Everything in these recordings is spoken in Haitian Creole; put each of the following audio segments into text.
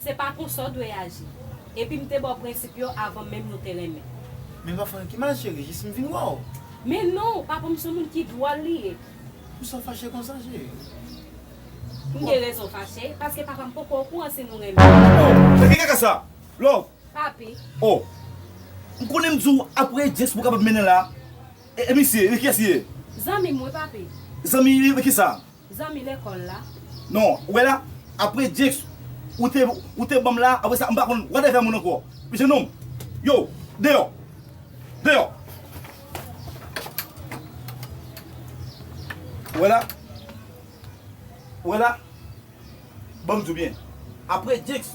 Se pa konsa w dwe aji. Epi m te ba w prensip yo avan menm nou te renmen. Men pa fè anyen ma cheri, jis m vin wè w. Men non, papa m son moun ki dwòl li ye. Pousa w fache konsa cheri? M gen rezon fache, paske papa m poko okouran si nou renmen. Oh! Sa ki kaka sa? Love, Papi. Oh! M konnen m di w apre James pou w kapab mennen la. E misye? Li kiyès li ye? Zanmi m wi, papi. Zanmi li ki sa? Zanmi lekòl la. Non, ou wè la, apre James ou te ou te ban m la, apre sa m pa konn wòt afè moun ankò. Jenòm! Yo! Deyò! Deyò! Ou wè la? Ou wè la? Bon m diw byen Apre Jenks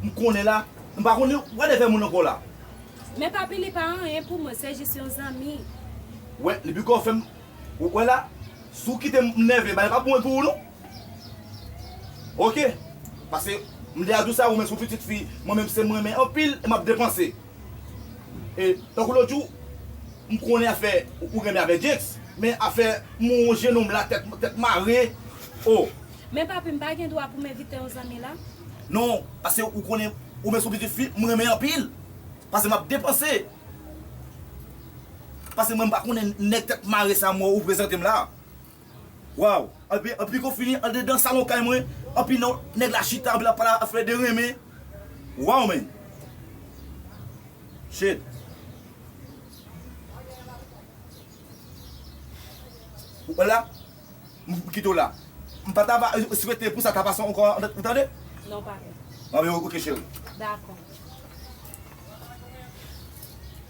m konnen la m pa konn whatever moun ankò la. Men papi li pa anyen pou mwen se jis yon zanmi. Wè li poko fèm ou wè la si w kitem m nève bagay pap bon pou ou non ok pase m deja diw sa ou menm se yon pitit fi mwen menm se m renmen anpil e map depanse. E tankou lòt jou m konnen afè ou renmen avè Jenks men afè m wè yon jenòm la tèt mare oh. Men papi m pa gen dwa pou m envite yon zanmi la? Non pase ou konnen ou menm se yon pitit fi m renmen anpil pase m ap depanse pase mwen m pa konnen nèg tèt mare sa mwen wè ou prezante m la. Waw anpi anpi kon fini andedan salon kay mwen anpi nan nèg la chita anpi lap pale afè de renmen waw men shit ou wè la m kite w la m pata va swete pou sa ta pase ankò ou tande Non papi. Bon ok cheri. Dakò.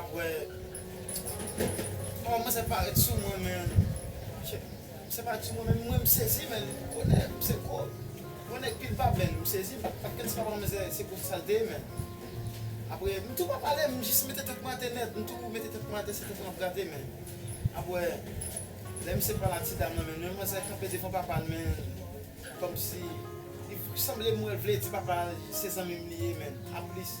Aprè Aw kòmanse parèt sou mwen men Se parèt sou mwen men mwen msezi men Bonè se gwo Yon nèg pil pa bèl msezi Paske m se papa mwen men se pwofesè l te ye men Aprè m tou pa pale m jis mete tèt mwen atè nèt M tou mete tèt mwen atè se tèt mwen ap grate men Aprè Lè misye pale a ti dam lan men Yon manzè kanpe devan papa l men Kòmsi Li sanble m wè l vle di papa l se zanmi m li ye men Aplis.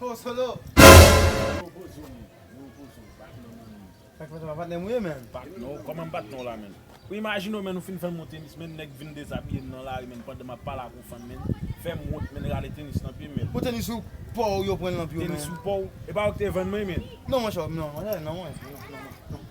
Ho solo. Ho ho zone. Ho ho zone. Bat non man. Sak fè se pa patnèm ou ye menn? Bat non. Koman m bat non la menn? Ou imajine w menn ou fin fè m yon tenis menn nèg vin dezabiye m nan lari menn pandan m ap pale ak yon fanm menn fè m wont menn rale tenis nan pye m menn. Bon tenis ou paw ou yo pran l nan pye w menn. Tenis ou paw? E pa ou ki te vann mwen menn? Non monchè non. Monchè non mwen. Non non non.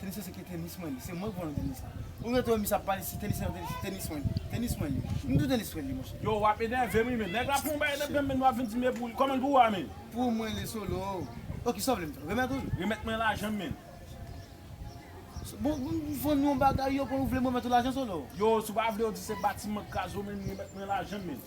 Tenis yo se ke tenis mwen li. Se mwen ki pran tenis la. Ou rete wè misye ap pale si tenis li, se tenis mwen li. Tenis mwen li. M tou tenis mwen li monchè. Yow wap enève m ui men. Nèg la pran yon bagay nan menm men nou ap vin di m e pou li. Kòman l pou ou a men? Pou mwen li solo. Ok kisa w vle m fè? Remèt ou l? Remèt mwen lajan m men. Bon m vann yon bagay yo pran ou vle m remèt ou lajan solo? Yow si w pa vle yo di se batiman k kraze w men remèt mwen lajan m men.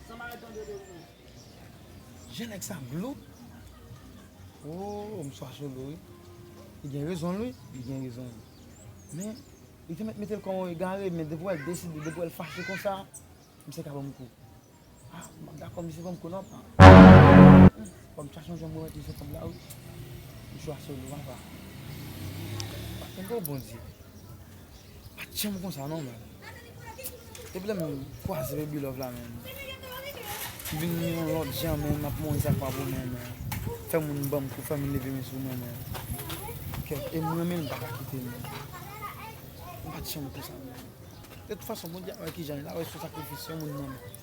Je nèg sa glou ooh mswa solo wi li gen rezonl wi li gen rezonl men li te mèt metel kon yon egare men depi wèl deside depi wèl fache konsa misye ka banm kou ah map dakò misye banm kou nan pa fòm mta sonje mwen mèt misye kob la wi mswa solo apa pa kenbe w bondye. Pat janm konsa non menn. Depi lèm kwaze Baby Love la menn. M vin yon lòt jan menn map mouri sak pa bon menn. Fè moun banm kou fèm leve men sou mwen menn. Kèt em renmenl m paka kite l menn. M pat janm konsa menn. De tout fason Bondye ap wè kijan li la wè sou sakrifis yon moun nan menn.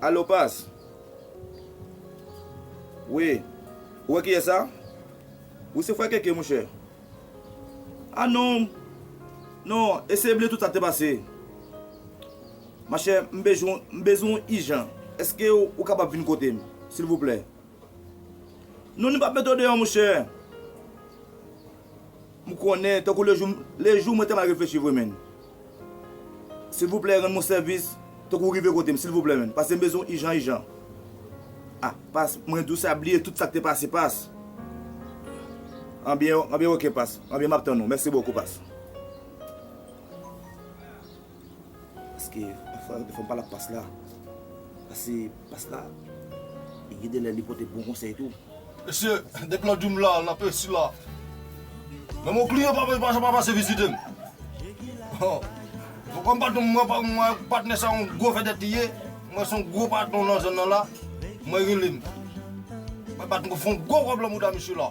Alo pas Wi Ou wè kiyès sa Wi se frè keke monchè A non Non e se bliye tout sa k te pase Machè m bezwen w m bezwen w ijan Èske ou kapab vin kote m silvouplè Non nou p ap met ou deyò monchè M konnen tankou le jou le jou mwen te mal reflechi vre menn silvouplè rann mwen sèvis tankou w rive kote m silvouplè menn pase m bezwen w ijan ijan ah pas mwen di w sa bliye tout sa k te pase pas anbyen anbyen ok pas anbyen m ap tann ou mèsi bokou pas. Paske pafwa yo te fèm pale ak past la. Pase past la li gen de lè li pote bon konsèy tou. Mesye depi nan dream la nan pesi la menm yon kliyan pa janm pa pase vizitem bon kòm patnèm mwen ak patnè sa yon gwo vèdèt li ye m wè se yon gwo patnè nan zòn nan la mwen relem mwen bat mwen fè yon gwo kob lan mouda misye la.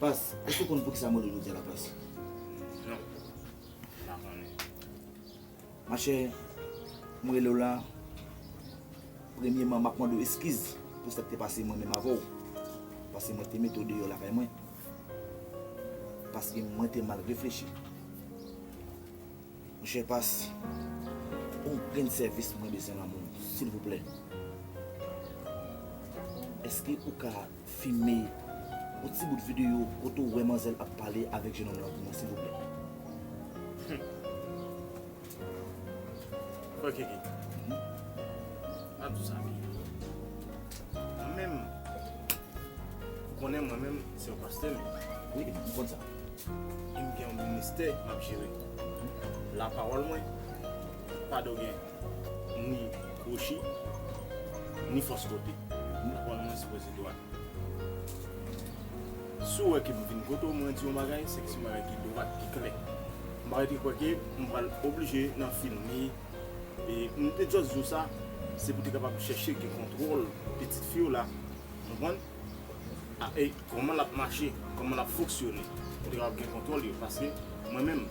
Pas, èske w konn poukisa mòde jodi a la Pas? Non, m pa konnen. Machè, m rele w la, premyeman m ap mande w eskiz pou sa k te pase mwen menm avè w. Pase mwen te mete w deyò lakay mwen. Paske mwen te mal reflechi. Monchè pas on grenn sèvis mwen bezwen nan moun silvouplè eske ou ka fime on ti bout video kote ou wè manzèl ap pale avèk jenòm lan pou mwen silvouplè. Humm ok gee map di w sa byen mwen menm ou konnen mwen menm se yon pastè m ye wi m konn sa. Em gen yon ministè map jere la pawòl mwen pa do gen ni kwochi ni fòs kote la pawòl mwen sipoze dwat si w wè ke m vin kote w mwen di w yon bagay se ke se yon bagay ki dwat ki klè m pa rete kwè ke m pral oblije nan filme e m te just di w sa se pou te kapab chèche gen kontwòl pitit fi w la ou konprann. a e kòman lap mache, kòman lap foksyone pou te kapab gen kontwòl yo paske mwen menm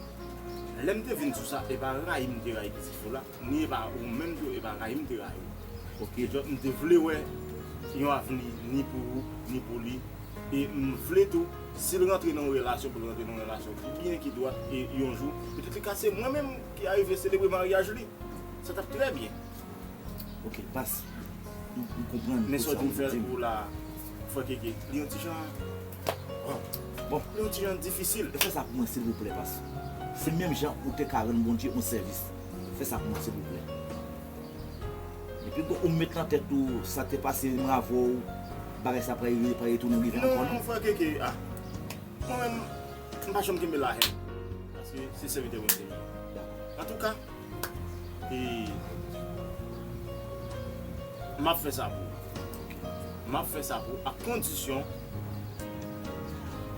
lèm te vin sou sa e pa rayi m te rayi pitit ou la ni e pa ou menm tou e pa rayi m te rayi ou ok just m te vle wè yon avni ni pou ou ni pou li e m vle tou sil rantre nan yon relasyon pou l rantre nan yon relasyon ki byen ki dwat e yon jou petèt li ka se mwen menm ki arive selebre maryaj li sa tap trè byen Ok pas m konprann tout sa wap dim. Li yon ti jan bon li yon ti jan difisil. Fè sa pou mwen silvouplè pas se menm jan ou te ka rann Bondye yon sèvis fè sa pou mwen silvouplè. Depi ou met nan tèt ou sa te pase m avè w bagay sa pa retounen rive ankò non. Non frè Keke ah mwen menm m pa janm kenbe la haine paske se sèvitè Bondye m ye antouka. E m ap fè sa pou ou. M ap fè sa pou ou ak kondisyon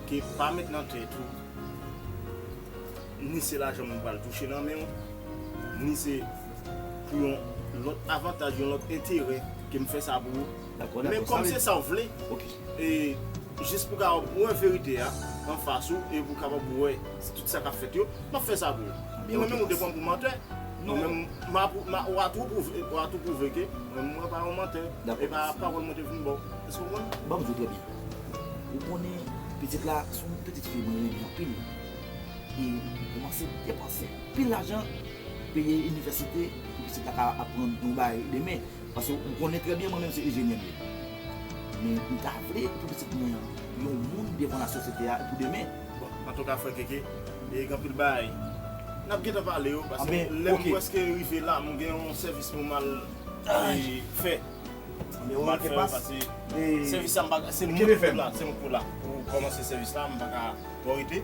ke pa met nan tèt ou ni se lajan m pral touche nan men w, ni se pou yon lòt avantaj, yon lòt enterè ke m fè sa pou ou. Dako, dako. Men kòm se sa ou vle. Ok. E jis pou kapab wè verite a anfas ou e pou kapab wè tout sa k ap fèt yo, m ap fè sa pou ou. E mwen menm ou te pran m pou mantè, mwen menm m a pou, ou a tou pwouve, ou a tou pwouve ke mwen menm mwen pa yon mantè. E pa pawòl mwen te vin ba w. Èske w konprann? Ban m di w trè byen. Ou konnen pitit la se yon pitit fi mwen renmen anpil. E m koumanse depanse anpil lajan peye inivèsite pou pitit la ka aprann yon bagay demen. Paske ou konnen trè byen mwen menm se injenyè m ye. Men m ta vle pou pitit mwen an yon moun devan lasosyete a pou demen. Bon, antouka frè Keke, gen anpil bagay n ap gentan pale yo paske lè m prèske rive la m gen yon sèvis pou m al fè. Anben ok Kepas. Pase sèvis sa m pa ka, se mwen ki pou la pou kòmanse sèvis la, m pa ka twò rete.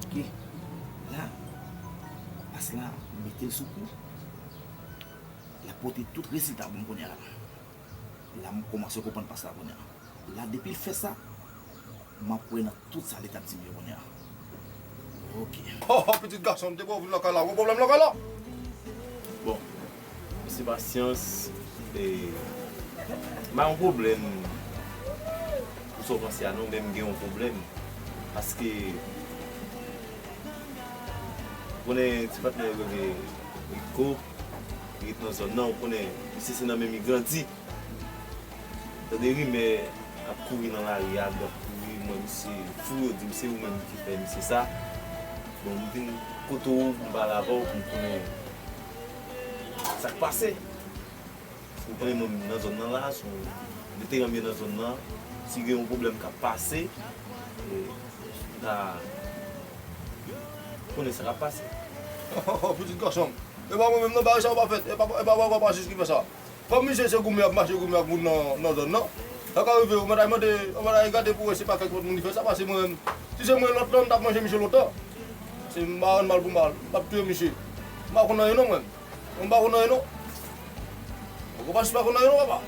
Ok, la, as la, mete l sou kou. L ap pote tout rezilta pou m kounye a la. La m koumanse konprann pas la kounye a. La depi l fè sa, m ap kwè nan tout sa li t ap di m yo kounye a. Ok. Ho ho pitit gason m te bo vin lakay la, ou gen pwoblèm lakay la? Bon. Mesi pasyans e m pa gen pwoblèm pou sa w panse a non men m gen yon pwoblèm paske ou konnen ti patnè yo rele Rico li ret nan zòn nan ou konnen misye se nan menm li grandi m tande rimè kap kouri nan lari a kap kouri m wè misye sou yo di m se ou menm ki fè misye sa bon m vin kote w pou m pale avè w pou m konnen. Sak pase? Ou konnen moun nan zòn nan la, sou veteran m yo nan zòn nan, si gen yon pwoblèm k ap pase, m ta konnen sa k ap pase. Pitit gason m, e pa mwen menm non, bagay sa yo pa fèt, e pa wè wè pa jis ki fè sa. Kòm misye se goumen ap mache goumen ak moun nan zòn nan, sa ka rive yo mèt al mande yon bagay gade pou wè se pa kèk lòt moun ki fè sa pase mwen menm. Si se mwen lòt lan m tap manje misye lontan. Se m pa rann mal pou mal, m pap touye misye. M pa konn anyen non mwen. Mwen m pa konn anyen non. Poko Pastè pa konn anyen non papa.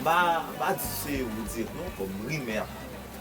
M pa di se ou di non kòm rimè a pale.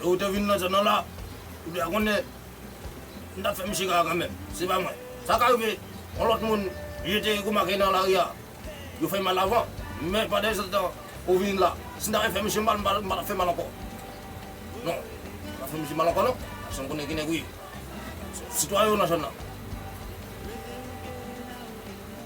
Lè ou te vin nan zòn an la, ou dwe konnen m t ap fè misye kaka kanmenm. Se pa mwen. Sa ka rive yon lòt moun je te remake nan lari a, yo fè mal avan. Men padetantan ou vin la, si m ta vle fè misye mal, m pa t ap fè mal ankò. Non, m pa t ap fè misye mal ankò non, paske m konnen ki nèg ou ye. Sitwayen ou nan zòn nan.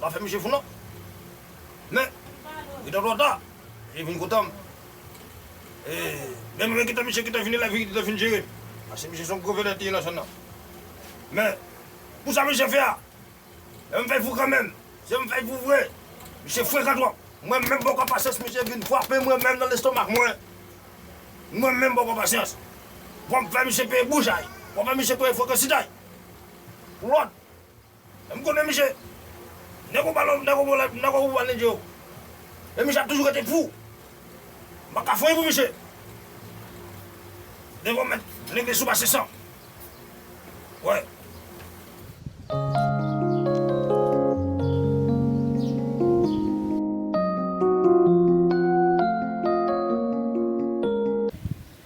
Pa fè misye fou non. Men, li te twò ta. Li vin kontan m. E, menm lè ki te misye ki te vin elèv li, li te vin jere m. Paske misye se yon gwo vedèt li ye nan zòn nan. Men, pou sa misye fè a, lè m fè l fou kanmenm, si m fè l fou vre, misye frekan twòp. Mwen menm bòkò pasyans misye vin frape mwen menm nan lestomak mwen. Mwen menm bòkò pasyans. Fò m fè misye peye boujay. Fò m fè misye peye frekantitay. Pou lòt. M konnen misye. Nego balo nego bo lèd nego ou anne djo. E misye ap toujou rete pou. M pa ka fanyen pou misye. Nego mèt leve sou mache san. Wè.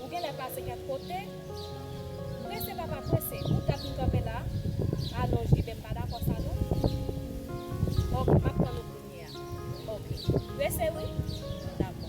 Ou genlè pase kèk kote? Prese papa prese, ou tap vin kanpe la? Ah non JB m pa dakò sa non. Ok map tann ou kounye a. Ok. Prese wi? Dakò.